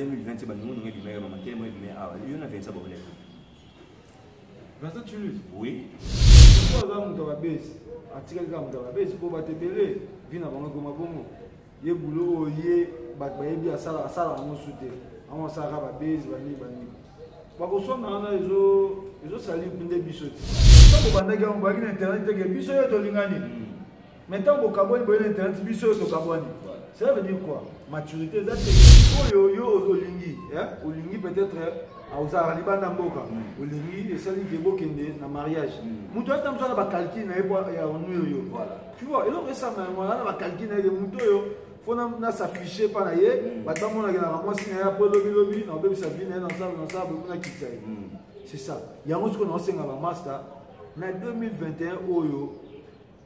2020 bandungu ndenge ebimaka mama te mo ebimaka awa yo na vincent bokoleka vincent tulus oui po aza moto abesi atikali kaka moto abesi po bato ebele vi na bango ekoma bongo ye bulo oyo ye bato bayebi asalaka yango su te yango asalaka babesi banini banini bakoswana wana ezosali nde biso ti ntango bandaki yango bayaki na internet teke biso yo tolingani hmm. mais ntango bokabwani boye na internet biso oyo tokabwani cela veut dire quoi maturité eza te oyo yo olingi olingi peut-être ah, ozalaka libanda mboka mm. olingi esali ke bokende na mariage mm. moto ata mosala bacalcule na ye po ya onu oyo tu vois eloko esanga yango aza na bacalcule na ye ke moto oyo fo nasaffiche mpa na ye mm. bato bamonakelaka mwasi na ye apo elobilobi na obebisa vi na ye nasala nasala bomi nakitisa ye c'est ça yango sikoyo naosenga bamasta na 2021 oyo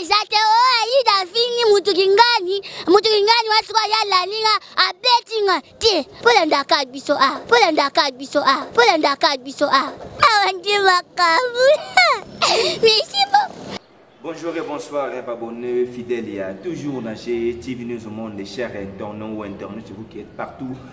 eza te o oh, ayida afingi mutu kingani mutu kingani wa sikoyo ya alandi nga abeti nga te mpo landaka biso a ah, mpo landaka biso a ah, mpo landaka biso a ah. awa nde makambo merci Bonjour et bonsoir, et abonnés fidèles. Il y a toujours Nager TV News au monde, les chers internautes ou internautes, vous qui êtes partout.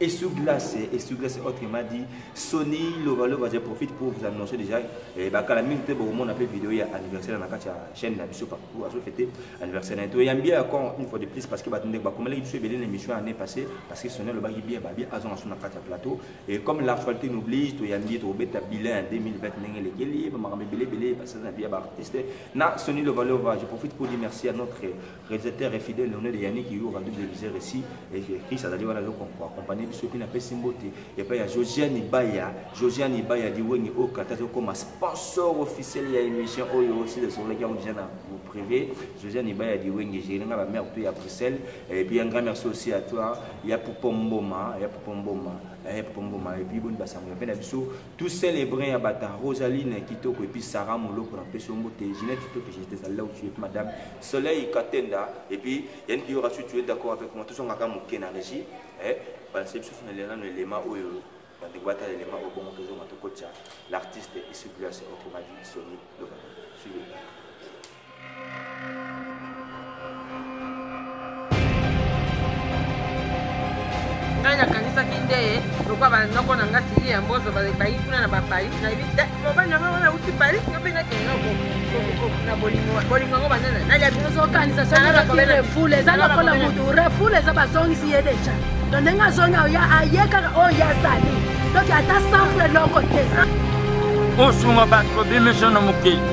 Essu Glace, Essu Glace autrement dit, Sony Lova Lova, je profite pour vous annoncer déjà, eh, bakala mingi te beaucoup monde appelle vidéo ya anniversaire na kati ya chaîne na biso partout, azo fêter anniversaire na to yambi encore une fois de plus parce que batende ba komela biso ebele na émission année passée parce que Sony Lova ki bien ba bien azon aso na kati ya plateau et comme l'actualité nous oblige to yambi to beta bilan 2020 ndenge lekeli ba makambe bele bele parce que na bien ba artiste na Sony Lova Lova, je profite pour dire merci à notre Réalisateur et fidèle Leonel Yannick Yu Radio Téléviseur ici et Chris azali wana loko ko accompagner biso puis na pesi mbote et puis ya Josiane Ibaya Josiane Ibaya Liwengi au Qatar comme sponsor officiel ya émission oyo aussi le soleil qui a déjà na privé Josiane Ibaya Liwengi j'ai nga ba mère tout ya Bruxelles et puis un grand merci aussi à toi ya Popomboma ya Popomboma ya Popomboma et puis bonne basango ya pena biso tout seul brun ya bata rosaline kitoko epuis sarah moloko na peso mbote ginette kitoto j'étais à là où tu es madame soleil katenda epuis yannick yorasu tu es d'accord avec moi tozongaka moke na régie eh, balase biso fina lelano elema oyo bandeko batala elema oyo bongo tozonga tokotya l'artiste isuglas okomadi soni loba suivez ngai nakanisaki nde lokwa banoko na ngai sili ya mbozo bayi kuna na baparis nayebi te mobali na ngai wana auti paris nga mpe nakenda na bolingo bolingo yango banana naliaozokanisa sorefoule eza lokola motu refoule eza bazongisi ye deja to ndenge azongi oya aye kaka oyo ye azali donc ata sanfre eloko te osunga bato bobimisa na mokili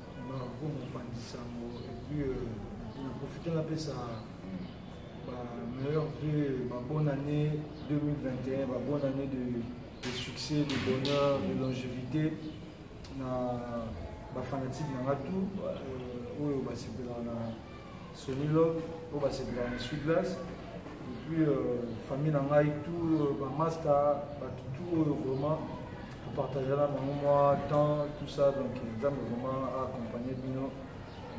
Bravo mopanzi sango et puis euh, na profite napesa ba meilleurs vœux, ba bonne année 2021, ba bonne année de, de succès, de bonheur, de longévité na ba fanatique na nga tout euh, oyo basepelaka na Sony Love, oyo basepelaka na Sud Glace. Et puis, euh, famille na ngai, tout, euh, ba masta, bato tout oyo euh, vraiment, topartagea na bango mwa temps, tout ça. Donc, nzambe vraiment a accompagné bino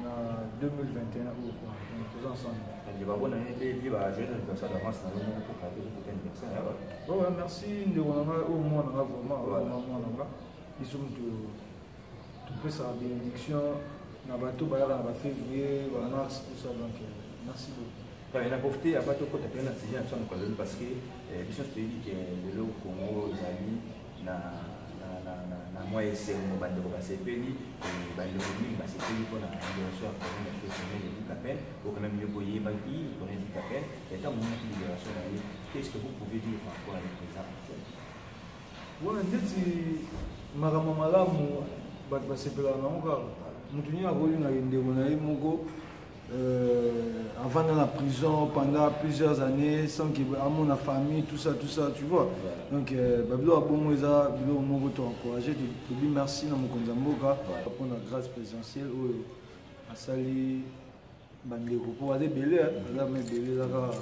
na 2021 oyo kua. Donc, toza ensemble. bango na yebi bajoyeux anniversaire d'avance na bango moko kaka tozo kote anniversaire ya bato. Ouais, merci ndeko na ngai, oyo mwana nga vraiment, oyo mwana nga, biso moto topesaka bénédiction na bato bayaka na bafévrier bamars tout ça donc euh, merci beaucoup na profite ya bato okota mpe na sujet na biso ya mokolo parce que euh, biso nyonso toyebi ke lelo congo ezali na na mwa esengo bandeko basepeli euh, bandeko mingi basepeli mpona liberation ya corona ya personnel ya dikapel okana miyo boyebaki corona ya dikapel ya ntango monaki liberation na ye qu'est ce que vous pouvez dire par rapport à le présent actuel wana ndeti makambo malamu bato basepelaka nango kaka moto nini akolingaka ndeko na ye moko euh, avanda na prison pendant plusieurs années sans que amona famille tout ça tout ça tu vois donc euh, babilo ya bongo eza biloko moko to encourage tobi merci na mokonzi ya mboka mpo na grâce présidentielle oyo asali bandeko mpo aza ebele aza ma ebele eza kaka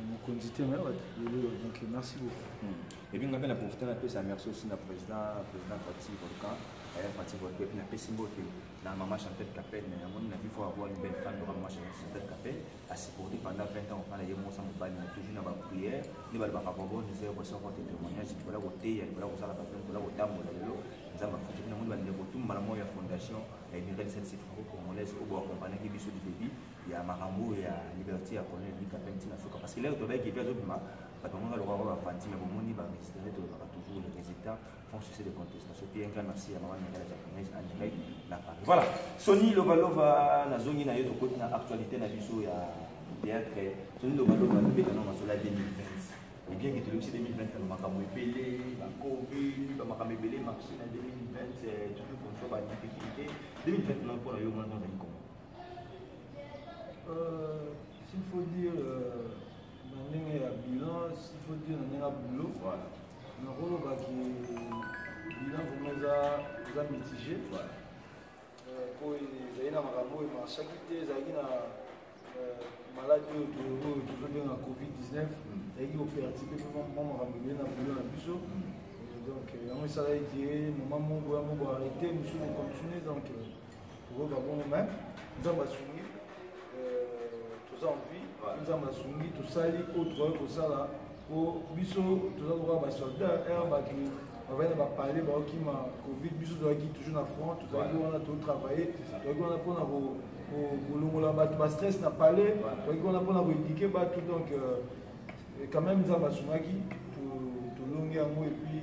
mokonzi te me bato ebele donc merci beaucoup hmm. epuis ngai mpe na profite napesa merci aussi na président président fati volcan aya fati volcan epuis napesi mbote na mama chantel capel na yango na vifo avoir une belle femme loka mama chantel capel asupporte pendant 20 ans ofana ye mosa mobali na toujours na baprière nde balobaka babone zero soko te témoignage likola koteya likola kosala bato likola kotambola lelo nzambe afuti mpe namoni bandeko tu mbala moko ya fondation ya emirel sensi franco congolaise oyo boakompanaki biso libebi ya makambo oyo ya liberté ya colonel lika mpe ntina suka parce que lelo tobaki epi azobima bato yango baloka yango bafanti me bomoni baministre nde tolobaka toujours le résultat font succès de contestation mpe enka merci ya mama mingala japonaise angelai na paris voilà soni lovalova nazongi na yo tokoti na actualité na biso ya théâtre soni lovalova tobeta no masolo ya 2020 et bien que tolobisi 2020 na makambo ebele bacovid bamakambo ebele marché na 2020 toujours comme ça badifficulté 2020 na mpo na yo mwana ozali koma Euh, s'il faut dire euh, na ndenge ya bilan s'il faut dire na ndenge ya boulot voilà. nakoloba ke bilan vraimen eza eza mitige voilà. euh, po ezali na makambo oyo emarchaki te ezalaki na euh, maladi oyo oyo tozobenga covid-19 mm. ezalaki kopertibe mpe mwa makambo ebele na boulot na biso mm. donc yango esalaki ke moma moko ya moko arrete mosusu kocontinue donc euh, kokoka bongo me nzambe asungi euh, toza envie nzambe asungi tosali oyo tokoki kosala po biso toza lokola basoldat r bato bavandi na bapale baokima covid biso tozalaki toujours na front tozalaki wana totravaille tozalaki wana mpona kolongola bato bastress na pale tozalaki wana mpona koedike bato donc euh, quand même nzambe asungaki tolongi yango epuis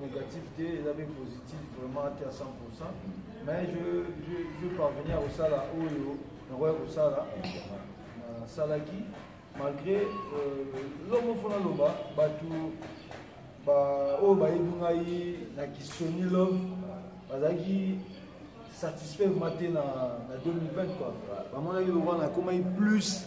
négatif te eza mpe positif vraiment te à 100 pourcent mais je, je, je parvenir kosala oyo nakoya kosala nasalaki malgré eloko euh, moko naloba bato oyo bayebi ngai na kisoni love bazalaki satisfait ma te na, na 2020 quoi bamonaki lokola nakomaki plus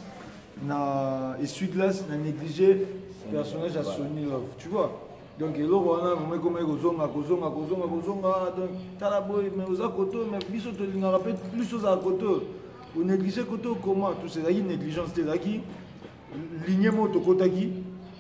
na essuie glace na négligé personnage ya soni love tu vois donc eloko wana vraimen ekomaki kozonga kozonga kozonga kozonga ah, donc tala boye mais oza koto mais biso tolingaka mpe plus ozala koto onéglige koto koma tous ezalaki négligence te ezalaki ligne moko tokotaki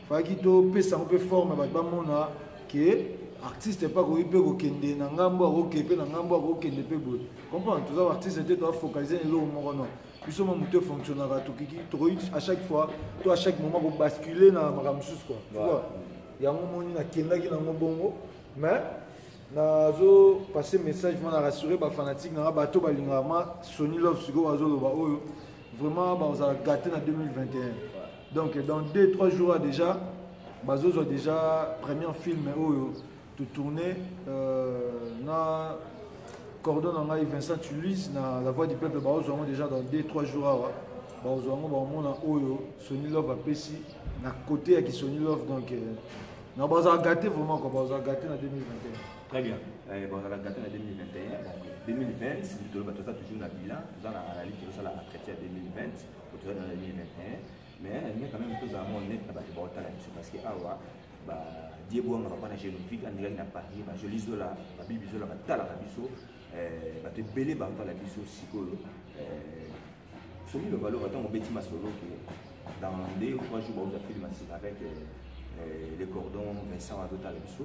fayaki topesa yango mpe forme bato bamona ke artiste mpe akoki mpe kokende na ngambo akokende mpe na ngambo akokende mpe boye comprendre toza baartiste te toafocalize na eloko moko non biso mwa moto efonctionnaka tokiki tokoki à chaque fois to à chaque moment kobascule na makambo mosusu kua tukua yango moni nakendaki nango bongo mais nazo passe message mpo na rassure bafanatique nanga bato balingaka ma sony love sikoyo bazoloba oyo vraiment bazala gate na 2021 donc dans 2 3 jours déjà bazozwa déjà premier film oyo to tourner euh, na cordon na ngai Vincent Tulise na la voix du peuple baozwa yango déjà dans 2-3 jours awa baozwa yango baomona oyo Sony Love apesi na côté ya Kisony Love donc euh, na bazala gate vraiment quoi bazala gate na 2021 très bien euh, bazala gate na 2021 donc 2020 toloba toza toujours na bilan toza na analyse tozosala na traité ya 2020 po toza na 2021 mais nalingi quand même tozala mo honnête na bato baotala biso parce que awa ba die bwanga papa na genovik andekaki na paris bajoli zola babibi zola batalaka biso eh, bato ebele batala biso sikoyo eh, soki lobaloba ntango obeti masolo ke dans deux ou trois jours baoza filme asika avec eh, le cordon vincent azotala biso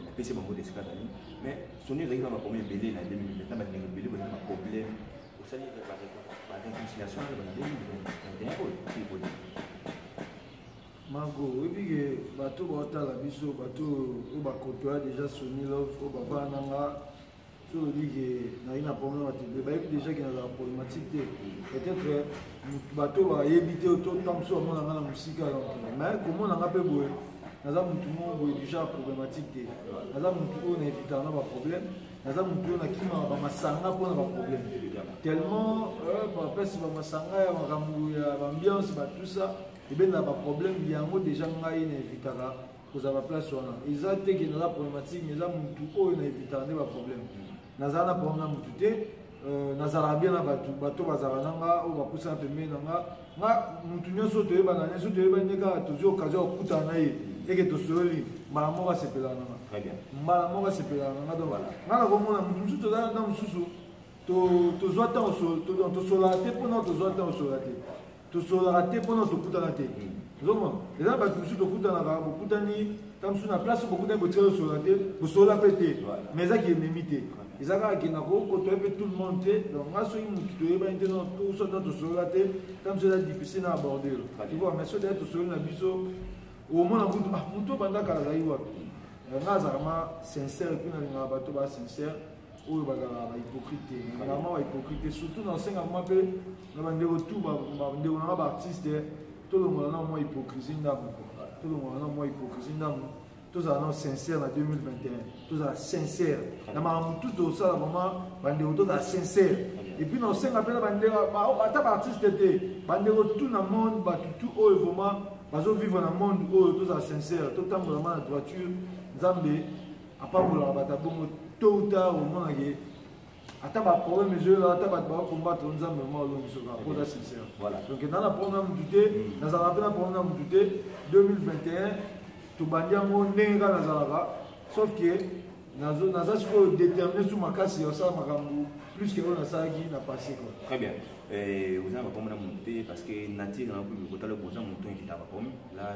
napesi bango desika zali mais soni ezalaki na bakomi ebele na 2020 na bandeko ebele bazali baproblème osali bareconciliation na ba 2021 oyo Marco, oyebi ke bato baotala biso bato oyo bakotoya déjà Sony Love oyo bavana na nga so olobi ke nayi na problème bato ebele bayebi déjà ke nazala problématique te peut-être bato bayebi te to ntango mosusu bamona nga na mosika mais komona nga mpe boye naza motu moko boye déjà problématique te naza motu oyo na evitaka na baproblème naza motu oyo nakimaka bamasanga mpo na baproblème tellement euh, bapesi bamasanga ya makambo ya bambiance batusa ebenda ba problème yango déjà ngai na evitaka kozala ba place wana eza te ke naza problématique mais eza mutu oyo na evitaka nde ba problème nazala na problème na mutu te euh, nazalaka bien na bato bato bazalaka na nga oyo bapusana pembeni na nga nga mutu nyonso toyebana nyonso toyebani nde kaka tozwi occasion ya kokutana na ye eke tosololi mbala moko asepelaka na nga mbala moko asepelaka na nga donc nga nakomona mutu mosusu tozala na mosusu tozwa ntango tosolaka te mpo na tozwa ntango tosolaka te tosololaka te mpona tokutana te ozomona eza na bato mosusu tokutanaka bokutani ta mosusu na place bokutani botika tosolola te bosolola mpe te mais ezaki ememi te eza kaka kenda kokotoya mpe tout le monde te donc nga soki motu toyebani te soki tosolola te ta mosusu eza difficile na aborder tu vois mais soki deya tosololi na biso omona kutu ah motu obanda kala azali wapi nga azalaka ma sincère mpe nalingaka bato ba sincère oyo bazalaka bahypocrite te nalingaka mwa bahypocrite te surtout nasengaka mwa mpe na bandeko tu bandeko nanga baartiste tolongola na mwa hypocrisie ndambo tolongola na mwa hypocrisie ndambo tozala na sincère na 2021 tozala sincère na makambo tu tosala vraiment bandeko tozala sincère epuis na osenga mpe na bandeko ata baartiste te bandeko tu na monde bato tu oyo vraiment bazovivre na monde oyo tozala sincère totambolama na droiture nzambe apambolaka bato abongo to uta omonake ata baproblème ezoyela ata bato bakombatre nzambe ma olongisoka mpo oza sincère donc eza na problème na motu te mm. nazalaka mpe na problème na motu te 2021 tobandi yango ndenge kaka nazalaka sauf que naza sikoyo détermine su makasi ya kosala makambo plus que oyo nasalaki na passé quoi très bien eh, oza na bakomi na motu te parce que nature na komi kotala boza motu evitaka bakomi la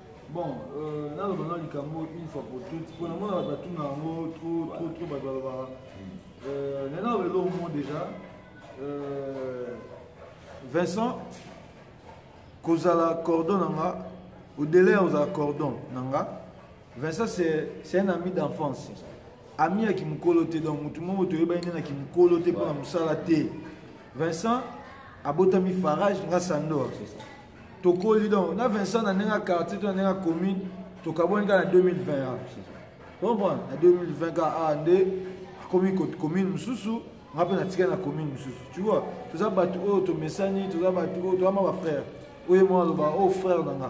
bon euh, naloba na likambo une fois pour toute mpo na mona bato batuna yango trop trop trop bato balobaka euh, na naloba eloko mo déjà euh, vincent kozala cordon na nga odele ya kozala cordon na nga vincent c'est un ami d'enfance ami ya kimokolo te donc motu moko toyebani nde na kimokolo te mpo na mosala te vincent abotami farage nga sandor tokoli donc na vincent na ndenge ya quartier to na ndenge ya commune tokabwani kaka na 2020 comprendre na 2020 kaka awa nde akomi commune mosusu nga mpe natika na commune mosusu tu vois toza bato oyo tomesani toza bato oyo toza ma bafrère oyo mwa aloba oyo oh, frère na nga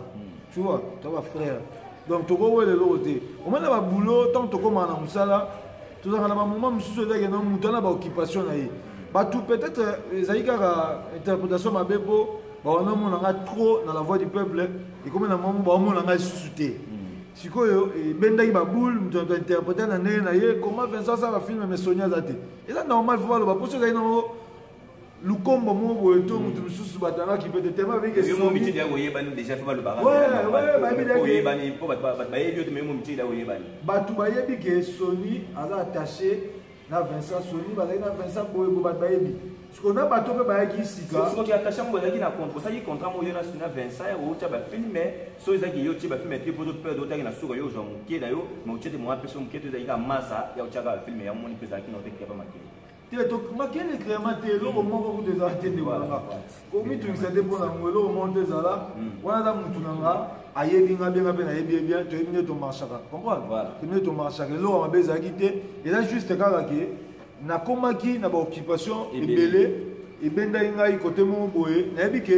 tu vois toza bafrère donc tokowela eloko te omona baboulot ntango tokomaka na mosala tozalaka na bamoma mosusu ezalaki na moto wana baoccupation na ye bato peut-être euh, ezali kaka interprétation mabe mpo bawana omona ngai trop na la voix du peuple ekomi na mwango baomona ngai lisusu te hmm. sikoyo ebendaki baboule moto na interprete na ndenge na ye comment vincent asala filme mais soni aza te eza normal fo baloba mposo ezali nango lukombo moko boye to moto mosusu bato yanga kipete tema bayebi bato bayebi ke soni aza attaché na vincent soni bazali na vincent boye bo bato bayebi siko na bato mpe bayaki sikaattaché yango bazalaki na osaki contrat moko yo na suna vincent outya bafilme so ezaki yo tie bafilme te poto pede otaki na suka yo ozwa moke na yo ma otie te moa mpe so moke te ezalaki ka masa ya otyaka bafilme ya moni mpe ezalaki na otekitapa makele te tomakende krema te eloko mm. moko kutu ezala te ndeko nanga komitungisa te mpo na yango eloko moko nde ezala mm. wana aza motu na nga ayebi nga benga mpe nayebi ye bien toyebi nde tomarchaka comprendre toyebi nde tomarchaka eloko mabe ezalaki te eza juste kaka ke nakomaki na baoccupation ebele ebendaki ngai kote moko boye nayebi ke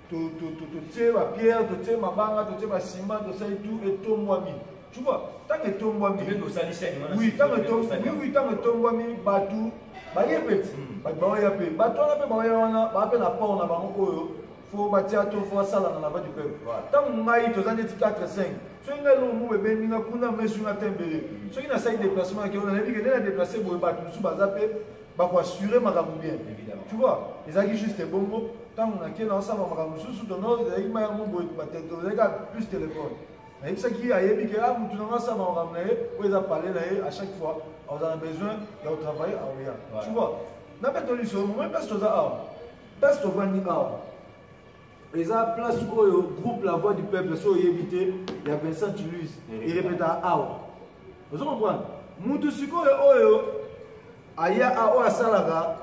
totie bapierre totie mabanga totie basima tosali tu etombwami tu vois ntango etombwami oui ntango etombwami bato baye peti hmm. bato baoya mpe bato wana mpe baoya wana baa mpe na port na bango oyo fo batia to fo asalana na vadi peuple ntango ngai toza ndeti 4 5 soki ngai eloko moko ebendi nga kuna mesu nga tembele hmm. soki nasali déplacement na keo nayebi ke nde na déplace boye bato mosusu baza mpe bako assurer makambo bien tu vois ezalaki juste ebongo ntango nake naosala makambo mosusu tono ezalaki mayango boye batozalaki kaka plus telefone nayebisaki ye ayebi ke a motu nango asala makambo na ye oyo eza pale na ye à chaque fois azala besoin ya kotravaille aoya tu vois na betoliso momo mpasi toza awa mpasi tovandi awa eza place oyo groupe la voix du peuple so oyebi te ya vincent tuluse erepetaka awa ozo comprendre mutu sikoyo oyo aya oyo asalaka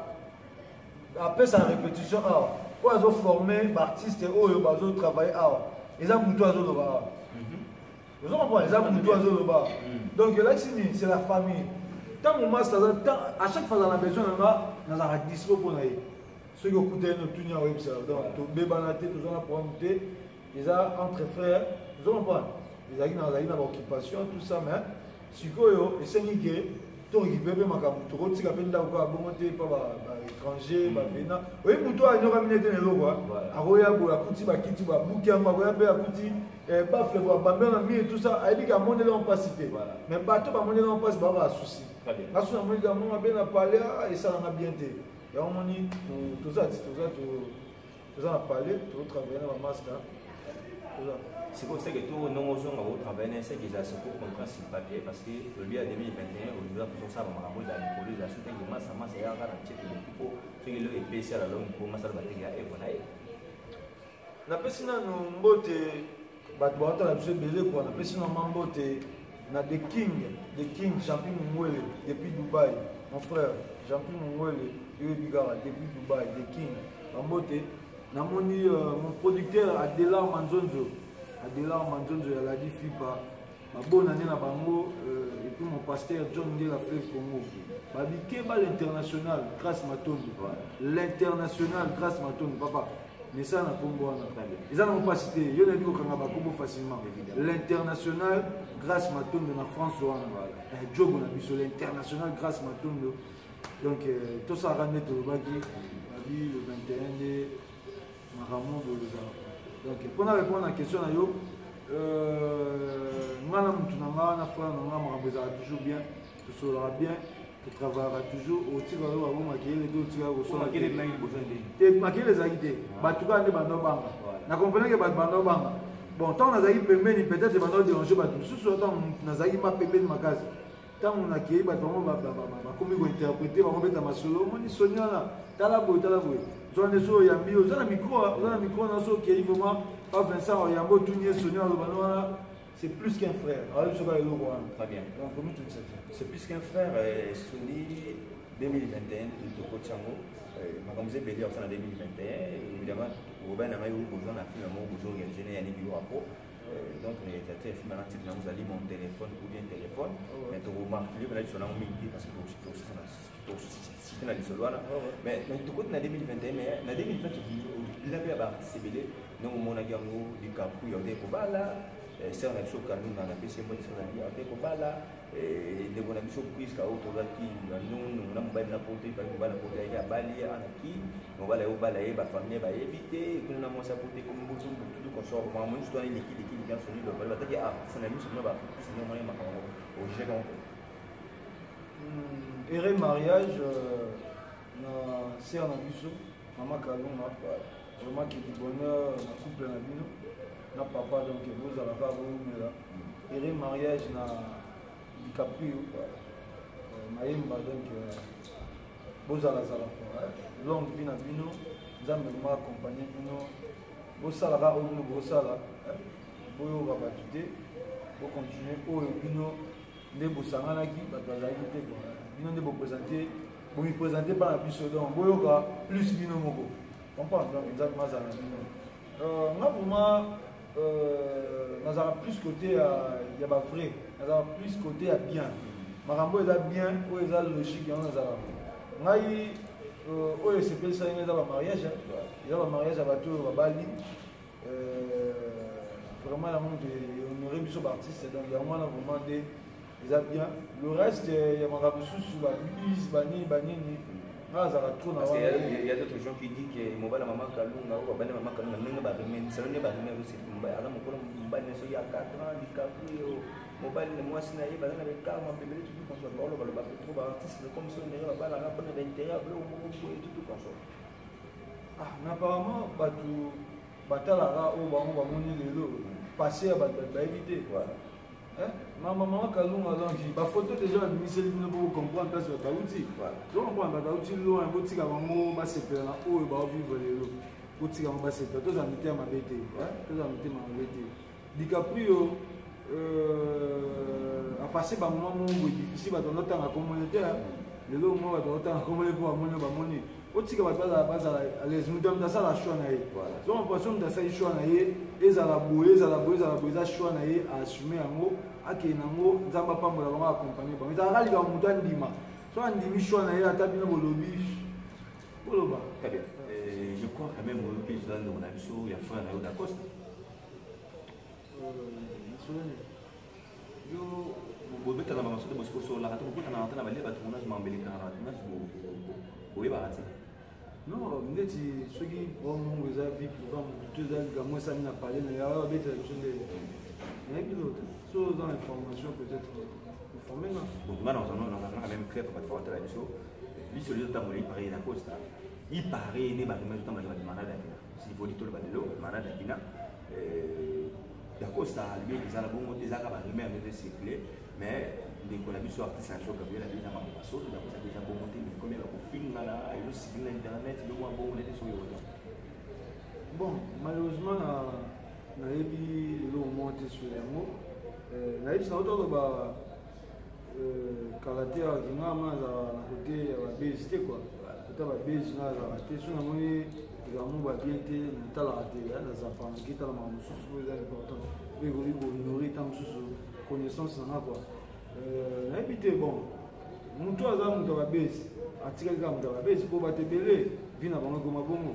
apesa répétition awa oyo azoforme baartiste oyo bazotravaille awa eza mutu azoloba awa mhm. ozo comprendre eza mutu azoloba awa mhm. donc elakisi nini c'est la famille ntango masta aza à chaque fois azala na besoin na nga nazalaka dispo mpo na ye soki okutani notuni yango oyebisa yo donc tobebana te toza na problème te eza entre frère ozo comprendre ezalaki nazalaki na baoccupation tout ça mais sikoyo esengi ke tokipe mpe makambo tokotika mpe ndako kaka bongo te mpa baétranger bavena hmm. oyebi moto anyokami nete na eloko akoya boye akuti bakiti babuki yango akoya mpe akuti eh, bafle babambe na mire tout ça ayebi ke amoneli yango mpasi te mais bato bamoneli yango mpasi baa basusi basusi amoni kamona mpe na palais ah, esalanga bien te yango moni toza toza toza na palais tozotravaille na bamaska toza sikoyo seke to ndenge ozonga otravaille na seke eza seko contrat sur papier parce que lobi ya 2021 olinga kozosala makambo eza likolo eza soki tangi masa masa yaka na ceke loki mpo soki eloko epesi ya lalongi mpo masala bateke ya evo na ye napesi nanu mbote bato bawata na biso ebele kwa napesi nanu ma mbote na the king the king champion mungwele depuis dubai mon frère champion mungwele yoyebi kaka depuis dubai the king bambote namoni euh, mon producteur adelar manzonzo adelar manzonzo ya ladi fipa babona nde na bango euh, epuis mon pasteur john ngela fleuve congo babikeba l'international grace matondo l'international grace matondo papa mesa na nkombo wana eza nango mpasi te yo nayebi kokanga bakombo facilement l'international grace matondo na france wana eh, jogo na biso l'international grace matondo donc euh, tosalaka nde tolobaki abi le 21 nde makambo bolozala donc mpo na répondre na question na yo euh, ngai na motu na ngai na frère na ngai makambo ezalaka toujours bien tosololaka bien totravaillaka toujours otika yo bango makelele te otika yo kosolate makelele ezalaki te bato kaka nde banda obanga na comprenake bato banda obanga bon ntango nazalaki pembeni peut-être banda oderange bato mosusu ntango nazalaki ma pembeni makasi ntango nakei bato bango bakomi kointerprete bango beta masolo omoni soni wana tala boye tala boye zwa nde so oyambi oza na mikro oza na mikro na so okei vraiment pa vincent oyambi otuni ye soni aloba no wana c'est plus qu'un frère ayebi soki eloko wana très bien donc omitungisa te c'est plus qu'un frère euh, soni 2021 tokoti yango euh, makambo eza ebele yakosala 2021 évidemment obai na ngai oyo boza na filme moko bozo organise na yaniki yo apo donc réalisateur esimba na titre nango ezali mon téléphone ou bien téléphone oh, mais tokomarkile mpena lisolo yango mingi te parce que tosite na lisolo wana oh, mais tokoti na 2021 mais na 2020 tobila mpe ya baartiste ebele ndenge omonaki yango likaku ya ote kobala eh, sere na biso kalunga na pesi mbo lisolo nabi ate kobala eh, ndeko na biso priska oyo tozalaki na nunu na mobali na poto ebaki mobali na poto yaki abali anaki mobali aye obala ye bafamille bayebi te kuna na mwasi akuti ekomi botu bututu consort mwa moni sutwana elekiliki likanso lilo bali bataki artiste na miso mna baartiste nde omoni makambo ojete yango ere mariage euh, na ser na biso mama kalunga vraiment que du bonheur na couple na bino na papa donc bozala kaka boumela ere mariage na dicaprio euh, mayemba donc euh, bozala zala longue vie na bino nzambe ma accompagne bino bosala kaka oyo bino bosala boyoka bato te bokontinue oyo bino nde bosanganaki bato bazalaki te bino nde bopresente bomipresente mpa na biso donc boyoka plus bino moko comprendre donc nzambe mazala bino Euh, nga vraiment euh, nazala plus côté ya, ya ba vrai nazala plus côté ya bien makambo eza bien oyo eza logique yango nazala ngai euh, oyo esepelisaki ngai eza bamariage eza bamariage ya bato oyo babali vraiment yango nde honore biso baartiste donc yango wana vraiment nde eza bien le reste euh, ya makambo mosusu babise banini banini nga azalaka trop na ya d'autres gens qui dit que mobali mama kalunga oyo babandi mama kalunga ndenge baremenisalo nde baremere oseki mobali aza mokolo mobali na soki ya 4 ans dicaprio mobali na mwasi na ye baza na bekar mapembele tutu konso baoloba loba petro baartiste comme so ndenge babalanga mpona bainteret biloko moko boye tutu konso ah na apparemment bato batalaka oyo bango bamoni lelo passé ya bato bayebi te Eh, mama mama kalunga alongi bafoto deja babimiseli bino po bocomprendre place bato bauti tocomprendre bato bauti loin botika bango basepela na oyo baovivre lelo botika bango basepela tozala mitema mabe te eh, tozala mitema mabe te dicaprio euh, apasse bamoma mongo difficile bato bazotanga komone te lelo mwa bato bazotanga komone mpo bamoni bamoni otika bato bazala bazala alaise moto ya moto asala choix na ye zoma poisson moto asali choix na ye ezala boye ezala boye ezala boye eza choix na ye aassume yango akende nango nzambe apambola bango akompagne bango ezalaka likambo moto andima so andimi choix na ye ata bino bolobi boloba euh, je crois quand même oyoki ezala ndeko na biso ya frère na yo dacosta euh, yo bobetaka bango soki bosiko osololaka te bokutanaka te na balie bato monage mambelekaka bato monage boyebaka te non ndeti soki bongo eza vie priva motu to eza likambo esami na pale na yawa babetela biso nde nayebi no te so oza na information peut-être informe nga nga nazanaka meme crep bato baotala biso biso lio ntango lei pareil na costa i pareil ne bato mazo ntango laki bato manada kina sivoli tolo balelo manada kina dacosta albi eza na bongo te ezaka barumeur nde circule mais ndeko na biso artiste na biso gabriel abi na makambo basolo dacosta mpe eza bongo te mais komela kofingana elosiki na internet eloko ya bongo nete soki oza bon malheureusement na nayebi lelo omoko te sur yango euh, nayebisa otoloba Euh, kala te awa ke ngai mwana azalaka na kote ya babezi te kua ata babezi ngai azalaka te so namoni likambo babien te natalaka te ya nazapana kitala makambo mosusu oyo eza important mpe ekoki kohonore ntango mosusu connaissance na ngai kua euh, nayebi te bon motu aza moto ya babezi atikali kaka moto ya babezi mpo bato ebele vi na bango ekoma bongo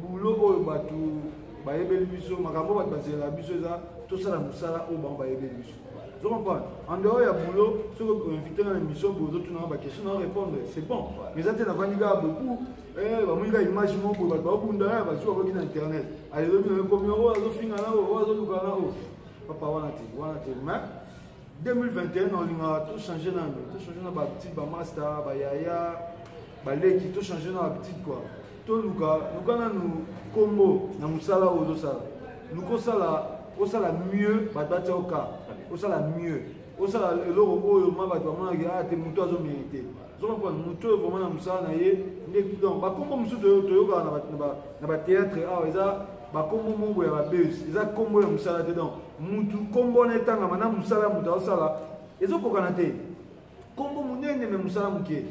boulot oyo bato bayebeli biso makambo bato bazelaka biso eza tosala mosala oyo bango bayebeli biso ozo comprendre en dehors ya boulot soki oinvite nga na émission boye ozotunanga baquestion na répondre c'est bon mais eza te navandi kaka beaucoup eh, bamoni kaka image moko boye bato babunda ya bazwi bakoki na internet alelobi na ekomi oyo azofinga na oyo azoluka na oyo papa wana te wana te mais 2021 olingaka to change nano to change na bahabitude bamasta bayaya baleki to change na habitude kua toluka luka nanu nkombo na mosala oyo ozosala luka osala osala mieux bato batya oka osala mieux osala eloko oyo ma bato bamonaki aa ah, te moto azomerite ozomapona moto oyo vraimen na mosala na ye nde donc bakombo mosusu toyokaka na batheatre awa eza bakombo moko ya babese eza kombo ya mosala te donc motu kombo wana etangama na mosala ya moto azosala ezokokana te kombo monene me mosala moke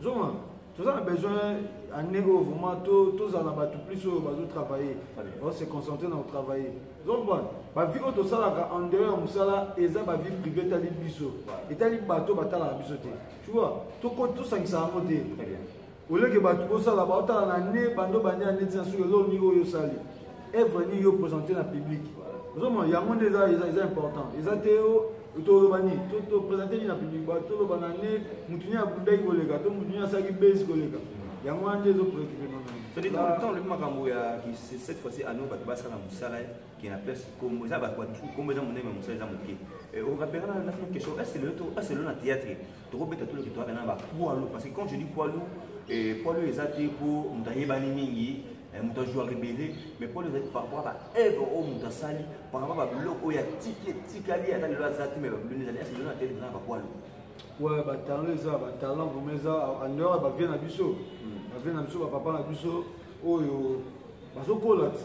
zoma toza na besoin année oyo vraiment tozala na bato plus oyo bazotravaille baose concentre na kotravaille zomba bavie oyo tosalaka en dehors ya mosala eza bavie privé etali biso etali bato batalaka biso te tu vois toko tosangisa yango te oleke bato bosala baotala na ne bando bania neti na soki eloko nini oyo osali evre nini yo présente na public ozomona yango nde eza eza important eza te yo toloba nini toprésente nini na public ba toloba na ne motu nini abundaki koleka to motu nini asalaki base koleka yango wana nde ezopreocupe nano makambo ya cette fois-ci ano bato basala mosala kina place kombo eza bato kombo eza monene mosala eza moke eh, okapeka na nafino question est ce que lelo to est ce lelo na théâtre tokobeta tolo ke toyaka na ba poids lourd parce que quand je dis poids lourd eh, poids lourd eza te mpo moto ayebani mingi eh, moto azwa rebele mais poids lourd ezali par rapport ba œuvre oyo moto asali par rapport babiloko oyo atiki etikali ata lelo aza te mais babiloko ezali est ce lelo na théâtre eza na ba poids lourd ouais batalent eza batalent vraimen eza en dehors ya bavie na biso bavie na biso bapapa na biso oyo bazokola ti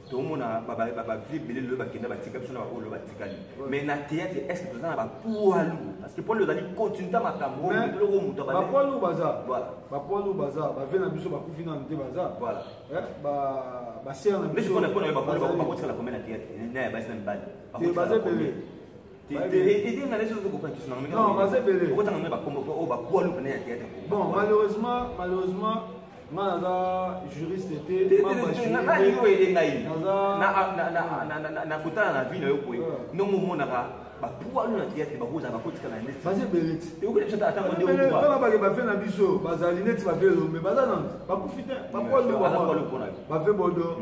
tomona bavie ebele lelo bakenda batika biso na baoyo batikali mais na théâtre est ce que toza na bapoilu parce que poilu ozali continue ta makambo biloko moto bapoilu baza bapoilu baza bavie na biso bakufi nanu te baza basere na biso bakotikala kombe na théâtre na ya basi na mibali baza ebele Bon, malheureusement, malheureusement, nga naza juriste te nani yo ele ngai na kotala na vie na yo boye ndongo omonaka bapualu na teyatre bakozala bakotika na neti baza ebele titala bake bafe na biso bazali neti bafe elombe baza na bakufi te bapualu bafe bodo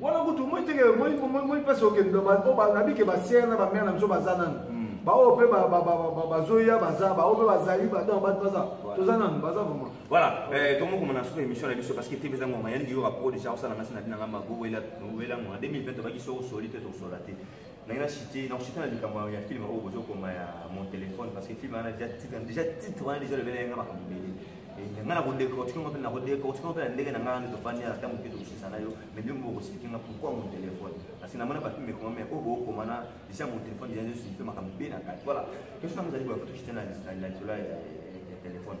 wana kutu moi teke moi mpasi okende nabi ke basiere na bamere na biso baza nanu hmm. baoyo mpe bazoya baza baoyo mpe bazali badon bato baza toza nanu baza vraiment voilà eh, tomokoma na suka émission na biso parce que tv eza ngoma yaniki yoka po déjà osala nasi na binanga mago wela ngoma 2020 tobaki so osoli te tosola te nange na chite na chite na likambo ya film oyo bozo koma ya mon téléphone parce que film wana déjà titre déjà titre wana déjà lobela yanga makambo ebele eh, nga na kodecortique ngo mpe na kodecortique ngo mpe na ndenge na nga nde tofandi na ntango mpe tokosisa na yo mais nde mbo okosiki nga pourquoi mon téléphone parce que namona bafilme ekoma mais oyo bookoma na déjà mon téléphone déjà nde suife makambo mpe na kati voilà question yango ezali boya kutu chite na lisolo ya téléphone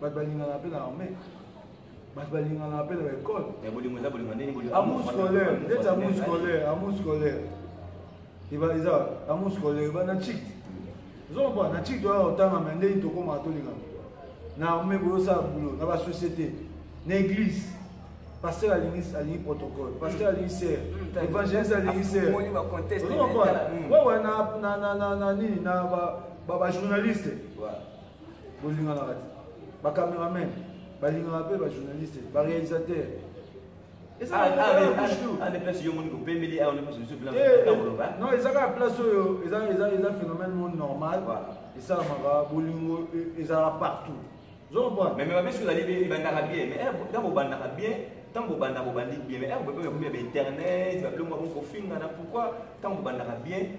bato balingana mpe na arme bato balinganaka mpe na baekole amour scolaire ndeti amour scolaire amour scolaire eza amour scolaire eba na chik ozomba na chik toyaka kotanga me ndenge tokomaka tolingana na arme boyosala bulo na basociété na église pasteur alingi alingi protocole pasteur alingi ser mm, évangéliste alingi ser ozomba wawa na nini na bajournaliste bolinganaka te bacameraman balingaka mpe bajournaliste barealisateur non eza kaka place oyo eza phénomène mo normal esalamaka bolingo ezalaka partout ebandaka bien mais ntango obandaka bien ntango obanda bobandi bien mais ekomi ya bainternet babiloko ya bokofinga na pourquoi ntango obandaka bien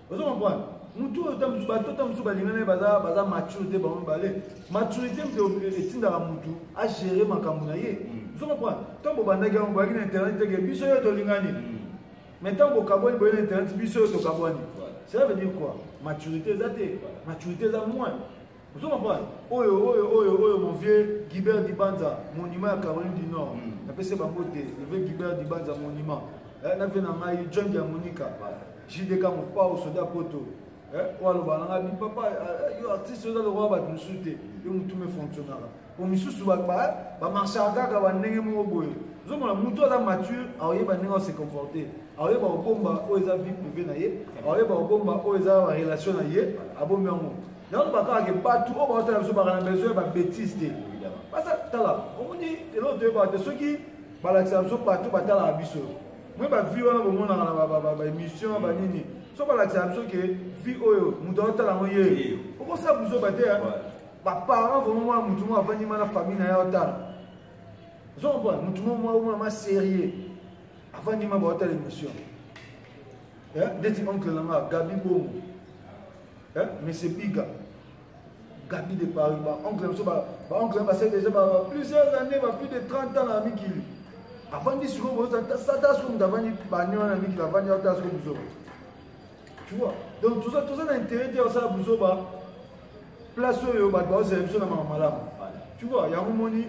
ozo comprendre mutu oyo tamusu bato tamusu balinga naye baza baza mature te bango mibale maturité mpe etindaka mutu agere makambo na ye mm. ozo comprendre ntango bobandaki yango boyaki na internet teke biso yo tolingani mm. mais ntango bokabwani boye na internet biso yo tokabwani cela veut dire quoi maturité eza te maturité eza moins ozo comprendre oyo oyo oyo oyo mon vieux Gilbert Dibanza monument ya Caroline du Nord mm. napesi bango te le vieux Gilbert Dibanza monument eh, na vie na ngai John ya Monica JDK Mopao soda Poto eh, oyo aloba na ngai papa eh, yo artiste oza lokola bato mosusu te yo motume fonctionnaka po misusu ba ba marchaka kaka ba ndenge moko boye ozomona mutu aza mature aoyeba ndenge ose comporter aoyeba kobomba oyo eza vie privé na ye aoyeba kobomba oyo eza ba relation na ye abombi yango yango bakaka ke batu oyo baotala biso baka na besoin ya ba betise te basa tala omoni eloko toyebaka te soki balakisa biso bato batalaka biso mwe bavie wana bomonaka na baémission banini so balakisa biso ke vie oyo moto aotala yango ye okosala buzoba te ba parents vraiment mwana motu moko avandi ma na famille na ye otala ozo comprendre motu moko mwa mwana ma sérieux avandi ma baotala émission eh, ndeti oncle na nga gabi bongo eh, monsieur biga gabi de paris baoncle na biso baoncle na basali déjà plusieurs années ba plus de 30 ans na mikili avandi sikoyo sata sikoyo moto avandi bane wana mikili avandi ata sikoyo bizoba tu vois donc toza toza na intérêt te osala buzoba place oyo bato baozela biso na mama malamu tu vois yango moni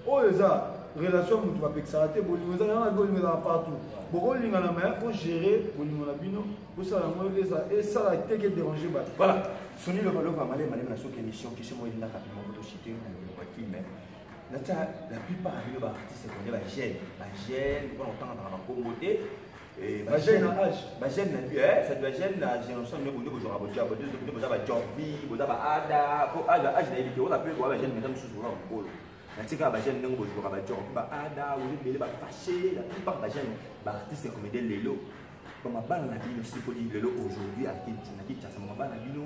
oyo eza relation moto bapekisaka te bolingo eza yango bolingo ezala partout bokolingana ma po gérer bolingo na bino bosala yango esala te ke dérange bato voilà soni lokalova malema lema na soki émission question moko elinga rapidement moto chite na biloko ya filme natia la plupart ya bino baartiste konde bagene bagene mpona kotangaka na bankombo te Eh, ba jeune na âge ba jeune na eh ça doit jeune na génération mais bonde bozora bodia bonde bonde boza ba jorbi boza ba ada ko âge âge na yebite ona pe ko ba jeune mais mususu boza mukolo na tika ba jeune ndenge bozora ba jorbi ba ada ozo bele ba fâché la plupart ba jeune ba artiste comédien lelo ba mabana na bino sikoli lelo aujourd'hui à Kinshasa na Kinshasa mabana na bino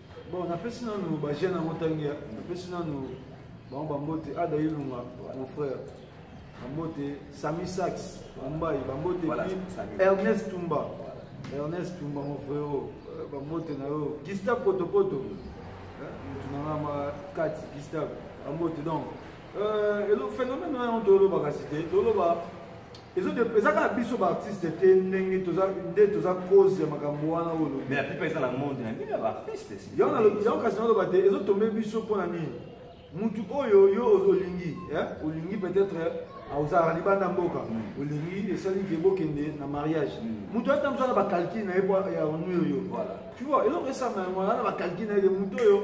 bon napesi nanu bajeune yango ntangi napesi nanu bango bambote ada ilunga mon frère bambote sami sax mumbai bambote pi ernest tumba ernest tumba mon frero euh, bambote na yo gustave potopoto motu na nga ma kati gustave bambote donc euh, elo phénomène wana tolobaka si te toloba eza kaka biso baartiste te ndenge nde toza cause ya makambo wana oyo olobi mais la plupart eza na monde na bino ya baartiste yango kasi naloba te ezotombe biso mpo na nini mutu oyo yo olingi olingi peut-être ah, ozalaka libanda mboka hmm. olingi esali ke bokende na mariage hmm. mutu ata mosala bacalcule na ye po ya onu oyo tu vois eloko esanga yango wana bacalcule na ye ke mutu oyo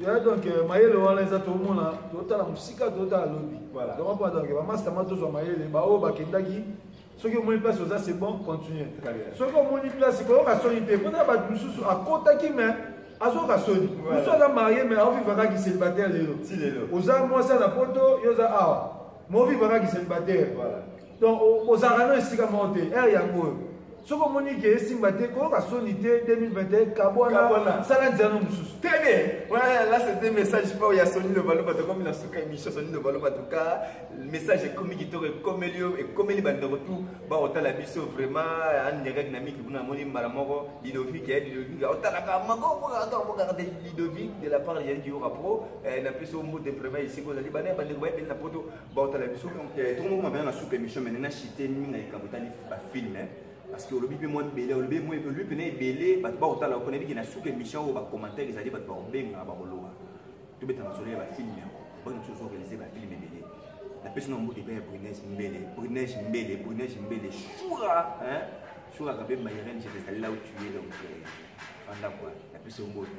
ya donc euh, mayele wana eza tomona totala mosika totala lobi donc mpo donc bamasta ma tozwa mayele baoyo bakendaki soki omoni place oza c'est bon continue soki omoni place koyoka soni te mpona bato mosusu akotaki mais azoyoka soni mosusu aza marie mais aoviva kaka kiselibataire lelo oza mwasi na poto yo oza awa maoviva kaka kiselibataire donc ozalaka no esika moko te ere yango oyo soki omoni ke esimba te koyoka soni te 2021 kabwana sala nzela no mosusu très bien voilà là c'était message fort ya soni lobaloba tokomi na suka émission soni lobaloba toka message ekomi kitoko ekomeli yo ekomeli bandeko tout baotala biso vraiment anirek na miki kuna amoni mbala moko lidovik ya lidovik aotalaka makobokabokaa de lidovik de la part ya dioka pro na biso mbote vraiment esika ozali bana ya bandeko bayebeli na poto baotala biso eh, tongo moko mabana na suka émission mene na chite mingi na likambo etali bafilme eh. parce que olobi mpe mwa ebele olobi mpena ebele bato bakotala mpona ebiki na suka émission oyo bacommentaire ezali bato bakobenga bakoloba tobeta masolo ya bafilme yango bana biso ozoorganize bafilme ebele napesi na mbote mpe ya brunese mbele brunese mbele brunese mbele shura shura kape mayeren je te salela otuye donc fanda kua napesi yo mbote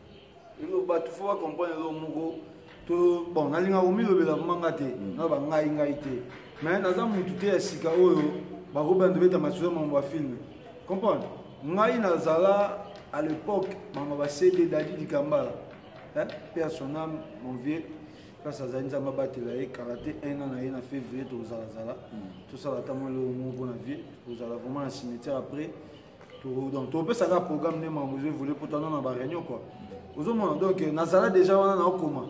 bato fo bacomprendre eloko moko to bon nalingaka komilobela vraimen nga te mm. na bangai ngai te mais naza motu te ya sika oyo bakobanda beta masuza mambo ya filme comprendre ngai nazala à l'époque mambo basede dadi likambala mpe asonam mon vieux place azali nzambe abatela ye kala te un an na ye na février tokozalazala mm. tosala ata mwa eloko moko mpo na vie tokozala vraiment na cimetière après donc topesaka programme nde makambo ezoevole mpo tana na baréunion kua ozomona donc nazala déjà wana naokoma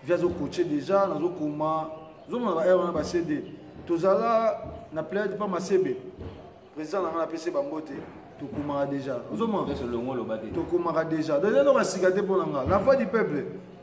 vi azocoache déjà nazokoma ozomona baheure wana bacd tozala na plade mpa masebe président na ngai napesi bango te tokomaka déjà ozomona tokomaka déjà donc eloko ya sika te mpo na ngai la voix du peuple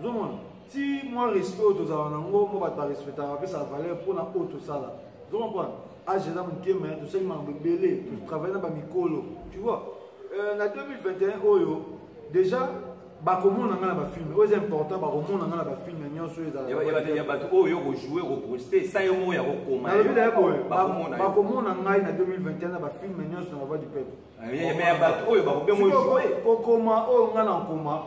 ozomona ti mwa respect oyo tozala na yango mpo bato barespectaka bapesaka valeur mpona oyo tosala ozomopana age eza moke me tosali makambo ebele totravaille na bamikolo tu vois euh, na 2021 oyo déjà bakomona nga na bafilme oyo eza important bakomona nga na bafilme nyonso oyo ezalaya bato oyo yo kojoue koproste sa yo moko ya kokomanalobi daya boye bakomona ngai na 2021 na bafilme nyonso na bavoi du peuple Eh, mais bato oyo bakobenge oyo kokoma oyo ngai nakoma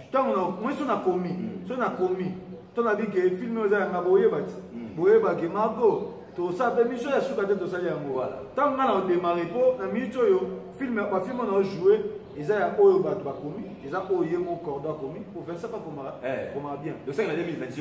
ntango moi so nakomi hmm. so nakomi to nabi ke filme oyo eza yanga boyeba ti hmm. boyeba ke mako tosala mpe miso ya suka te tosali yango ntango ngai naodemare mpo na minute oyo filme bafilme oyo naojoue eza ya oyo bato bakomi eza oyo ye mo cordo akomi professeur akomaka eh. bien 2020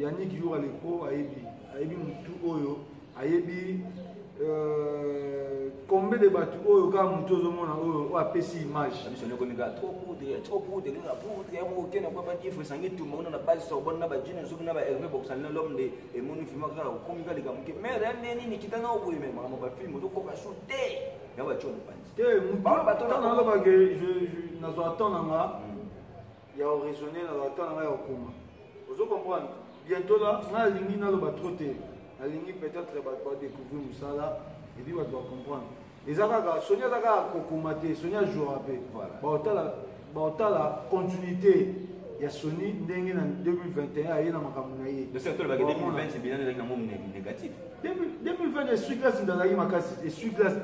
Yannick Yura Lepo ayebi ayebi mutu oyo ayebi euh, combien de bato oyo kaka motu ozomona oyo oyo apesi image na base sorbonne na bajine soki na baherve boxani na lome de emoni filme kaka okomi ka likambo ke mare ya nde nini kita na okoyeme makambo bafilme ozokoka sur te ya batyo mopanzi te motu nazwaka temps na nga ya oraisonne na batemp na ngai ya kokoma ozo comprendre bientôt la ngai alingi naloba tro te nalingi peut-être bato badécouvrir mosala epuis bato bacomprendre eza kaka soni aza kaka kokoma te soni ajoura mpe baotala continuité ya soni ndenge na 2021 aye na makambo na ye 2020 esui glasi ndazalaki makasi esui glasi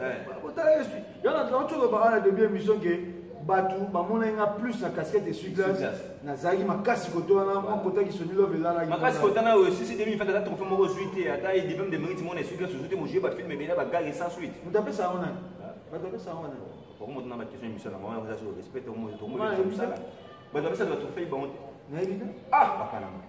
Yala tokati oloba wana debut ya mission ke bato bamonaki nga plus na casquette esui glace nazalaki makasi koto wana mwa kotaki soni love elalaki makasi kota na oyo sisi demi fata ata trophée moko ozwi te ata edipeme de mérite mona esui glace ozwi te mojue bafilme ebele ya bagage sans suite moto apesa yango nani bato apesa yango nani bango moto na bakestion emission na bango eza respect tomoto tomoto bato apesa bato fei bango te nayebi te ah papa na ngai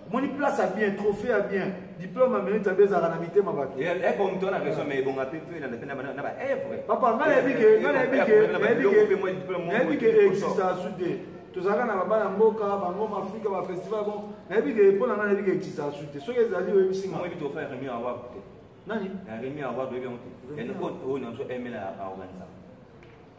omoni place ya bien trophée ya bien diplôme ya minute abe ezalaka na mitema bato eko moto wana question mais ebonga mpe mpe elanda mpe na baevre papa ngai nayebi ke ngai nayebi ke nayebi ke exista su te tozalaka na babana mboka bangoma afrika bafestival bon nayebi ke mpo na ngai nayebi ke exista su te soki ezali oyebisi ngai oyebi tofa remi award te nani remi award oyebi yango te yango oyo nyonso emela aorganisaka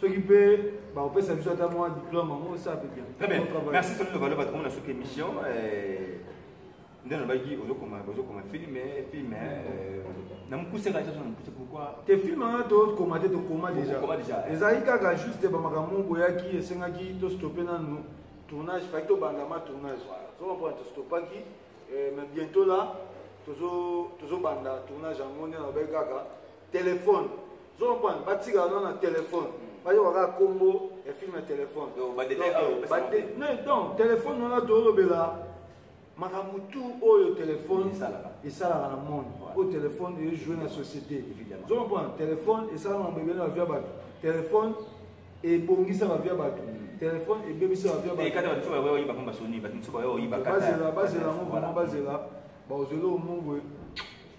soki mpe bakopesa biso ata mwa diplome yango osa mpe bien très bien merci soni lobalo bato komona soki émission eh, nde nalobaki ozokoma filme filme eh, na mokuse kaka na mokuse pourkoi te filme wana tokoma te tokoma déjà ezalaki kaka juste bamakambo moko boyaki esengaki tostope nanu tournage faki tobanda ma tournage tozomapona tostopaki eh, mais bientôt là tozobanda tournage yango nde nalobaki kaka telefone zomapana batikaka no na telefone bayoka kaka nkombo ya filme ya telefone donc telefone wana tolobela makambo tu oyo telefone esalaka na monde oyo telefone ejoue na société zomapana telefone esalaka mambo ebele na bavia bato telefone ebongisa bavia bato mm. telefone ebebisa bavia batobazela yango vraimen bazela baozeli omongwe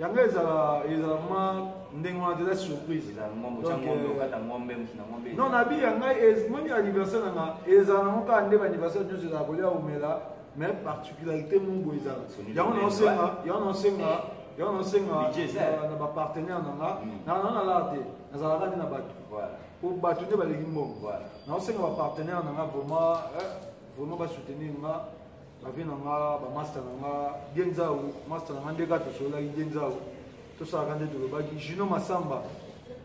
yango ezala ezala ma ndenge wana eza surprise non nabi ya ngai moni anniversaire na nga ezala nango kaka nde baanniversaire nyonso ezala kolia omela mais particularité mongo ezala yango naosenga yango naosenga yango naosenga na bapartenaire na nga hmm. na nalala te nazalaka nde na bato po bato nde baleki mbongo naosenga bapartenaire na nga vraiment eh, vraiment basoutenir nga bavi na nga bamasta na nga dienzau masta na nga nde kaka tosololaki dienzau tosalaka nde tolobaki juno masamba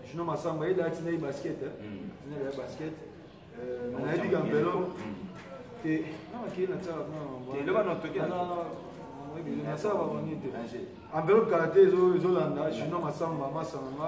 juno masamba ye lati nayi basket eh. hmm. nayi ya basket eh, nayebi ka velo hmm. te namakei natiaka nasala bango nini te enveloppe kala te ezolanda juno masamba masta na nga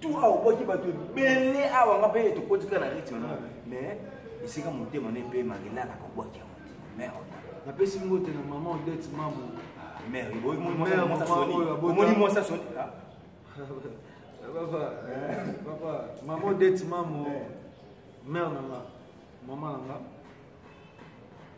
tu awa obwaki bato ebele awa nga mpe tokotika na rythme na mais esika motema ne mpe makelaka kobwaki yango te mère napesi ngo te na mama odete mamo mère omoni mwasi asoni papa papa mama odete mamo mère na nga mama na nga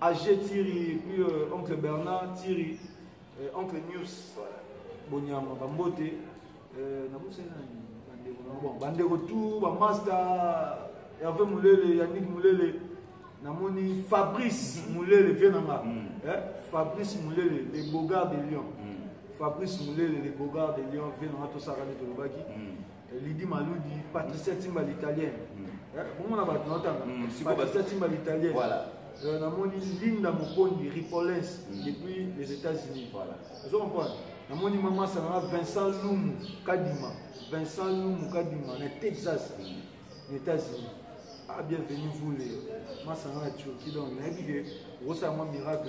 Age Thierry et puis euh, oncle Bernard Thierry euh, oncle News voilà. Bonyama Bambote euh, na musa nani bandeko na bon bandeko tout ba master Hervé Mulele Yannick Mulele namoni Fabrice mm-hmm. Mulele vieux nanga mm. eh? Fabrice Mulele les beaux gars de Lyon mm. Fabrice Mulele les beaux gars de Lyon vieux nanga tosaka nde tolobaki mm. lidi maludi patricia timba l'italien bomona bato naotanga patricia timba l'italien Euh, namoni linda mokondi ripollens mm. depuis les états-unis voilà ozo comprendre namoni mama sananga vincent lumu kadima vincent lumu kadima na texas mm. na états-unis ah bienvenu vous le masanga na turquie donc nayebi ke okosala mwa miracle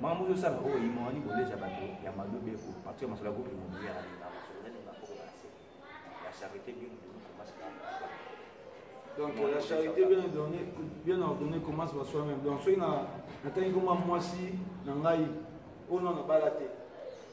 makambo ozosala oyo imani koleza bato ya malobe ko partir ya masolo ya groupe immobilier alinga masolo nani bakoko base la charité bien ordonnée commence par donc la charité bien ordonnée bien ordonnée commence par soi-même donc soki natangi koma mwasi na ngai oyo nano bala te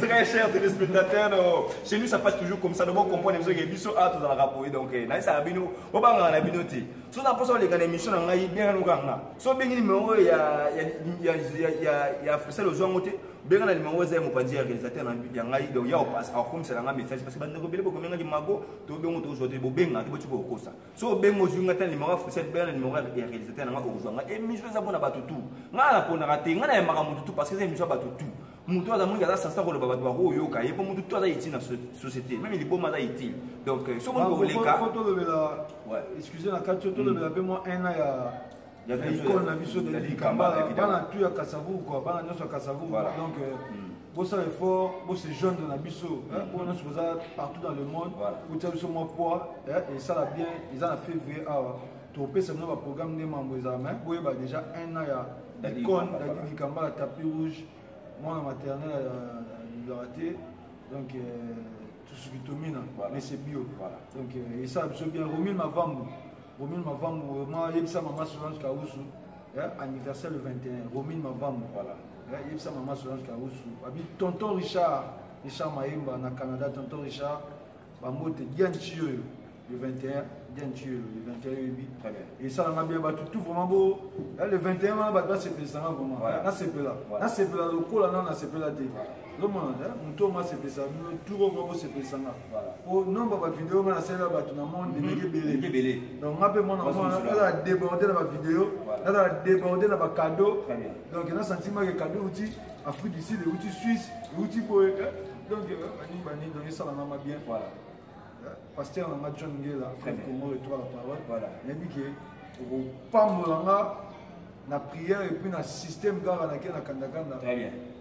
Très cher téléspectateur, oh. chez nous ça passe toujours comme ça. Donc on comprend les choses biso a tous dans la rapouille donc eh, na ça bino on va dans la binoté. So na poso les gars émission na ngai bien no kanga. So bien numéro ya ya ya ya ya c'est le jour ngote. Bien na numéro za mo pandi réalisateur na ya ngai donc ya passe au comme c'est la message parce que bande ko bele ko menga ki mago to bien to aujourd'hui bo benga to bo tu ko kosa. so obengi ozwi ngai ta nimero ya fusete bela na nimero ya réalisateur na ngai okozwa ngai émission eza mpo na bato tu ngai naponaka te ngai nayembaka motu tu parce que eza émission ya bato tu motu aza mingi aza sansa koloba bato bakoyoka ye mpo motu tu aza utile na société meme liboma aza utile donc soki olingi koleka tolobela excuse na kati tolobela mpe mwa un ya ya ikone na biso de likambala bana tu ya kasavuku bana nyonso ya kasavuku donc bosala effort bose joindre na biso oyo nyonso boza partout dans le monde botia biso mwa poids esala bien eza na février awa topesa bino baprogramme nde mambo ezala mai boyeba déjà un an ya icone dadidi kambala tapis rouge mwana maternel alobaka euh, te donc euh, tosuki tomina mese bio donc euh, esala biso bien romil mavambu romil mavambu vraiment ayebisa mama solange kausu eh, anniversaire le 21 romine mavambo voilà eh, yebisa mama solange kausu abi tonton richard richard mayemba na canada tonton richard bambote dianci oyo le 21 dianci oyo le 21 oyebi esalanga bien bato tout vraiment bo eh, le 21 wana bato basepelisanga vraiment nasepela nasepela lokola nano nasepela te ozomona moto oyo masepelisa bino turo mwa bosepelisa nga po nomba bavideo nga nasalela bato na monde mhm. ndenge ebele donc nga mpe mwana nazala déborde na bavideo nazala déborde na bacado donc na sentiment ke cado euti afrique du sud euti suisse euti boye donc baningi euh, baningi donc esalanga ma bien voilà pasteur na nga john ngela frère congo retour la parole voilà nayebi ke okopambola nga na prière epuis na système kaka nake na kandakanda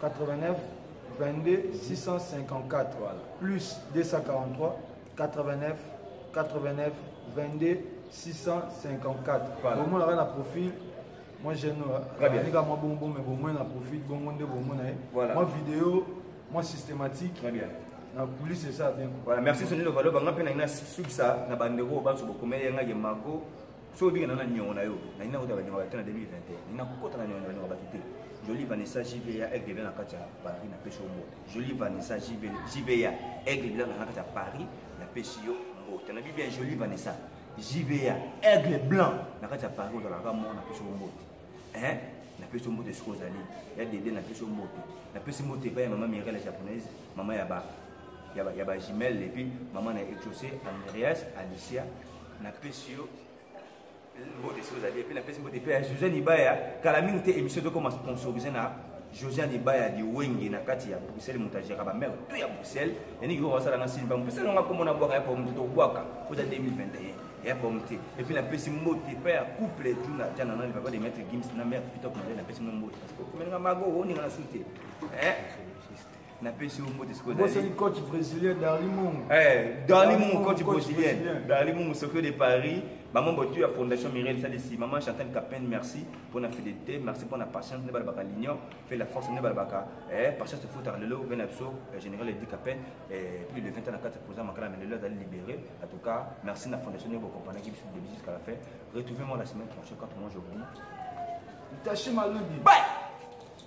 89 22 654 voilà. plus 243 89 89 22 654 voilà. omonaka na profil moi jeune anika mwa bongo bongo mais bomoi na profil bongo nde bomona ye voilà. mwa video mwa systématique Très bien. na kulise esa bien voilà, merci sonilo valo banga mpe na ina sukisa na bandeko oyo banso bokomeli yangaki mako soki obika nao na niongo na yo na nina kota baniongo bato na 2021 nina kokota na niongo baniongo bato te jolie vanessa jva aigle bila na kati ya paris na pesi yo mbote jolie vanessa jva aigle bila na kati ya paris na pesi yo mbote na bibia jolie vanessa jva aigle blanc na kati ya paris ozalaka mo na pesi yo mbote eh? na pesi yo mbote soki ozali ya dede na pesi yo mbote na pesi mbote epai ya mama mirele japonaise mama ya ba ya ba, ya ba jumelle epuis mama na exauce andreas alicia napesi yo mbote soki ozali epe napesi mbote mpe ya josiane ibaya kala mingi te émission tokoma sponsorise na josiane ibaya liwenge na kati ya bruxelles moto ajaka bamere to ya bruxelles yaniki koko basala na sini bango mpesa nanga nkombo na bwaka ya po moto tobwaka oza 2021 ya po mote epuis napesi mbote mpe ya couple juna jana nani papa de maître gims na mare pitop na ye napesi mwa mbote parce que omelinga mago oninga na sute eh? napesi yo mbote sikoyobosani coach brésilien darli mungu eh, darli mungu coach brésilien darli mungu sokio de paris maman botu ya fondation mirel salisi maman chantal capin merci mpo na fidélité merci mpo na patience nde balobaka l'union fait la force nde balobaka eh, patience efutaka lelo ve na biso eh, général edi capin plus de 20 ans na kati président makala me lelo azali libéré en tout cas merci na fondation nde bokompanaki biso début jusqu'à la fin retrouvez moi la semaine prochaine quand moi je vous dis tashi malongi bye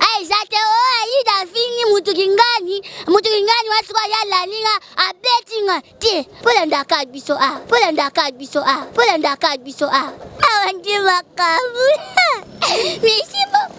Eh, eza te o oh, ayida afingi mutu kingani mutu kingani wa sikoyo ye alandi nga abeti nga te mpo landaka biso a ah, mpo landaka biso a ah, mpo landaka biso a ah. awa nde makambo misibo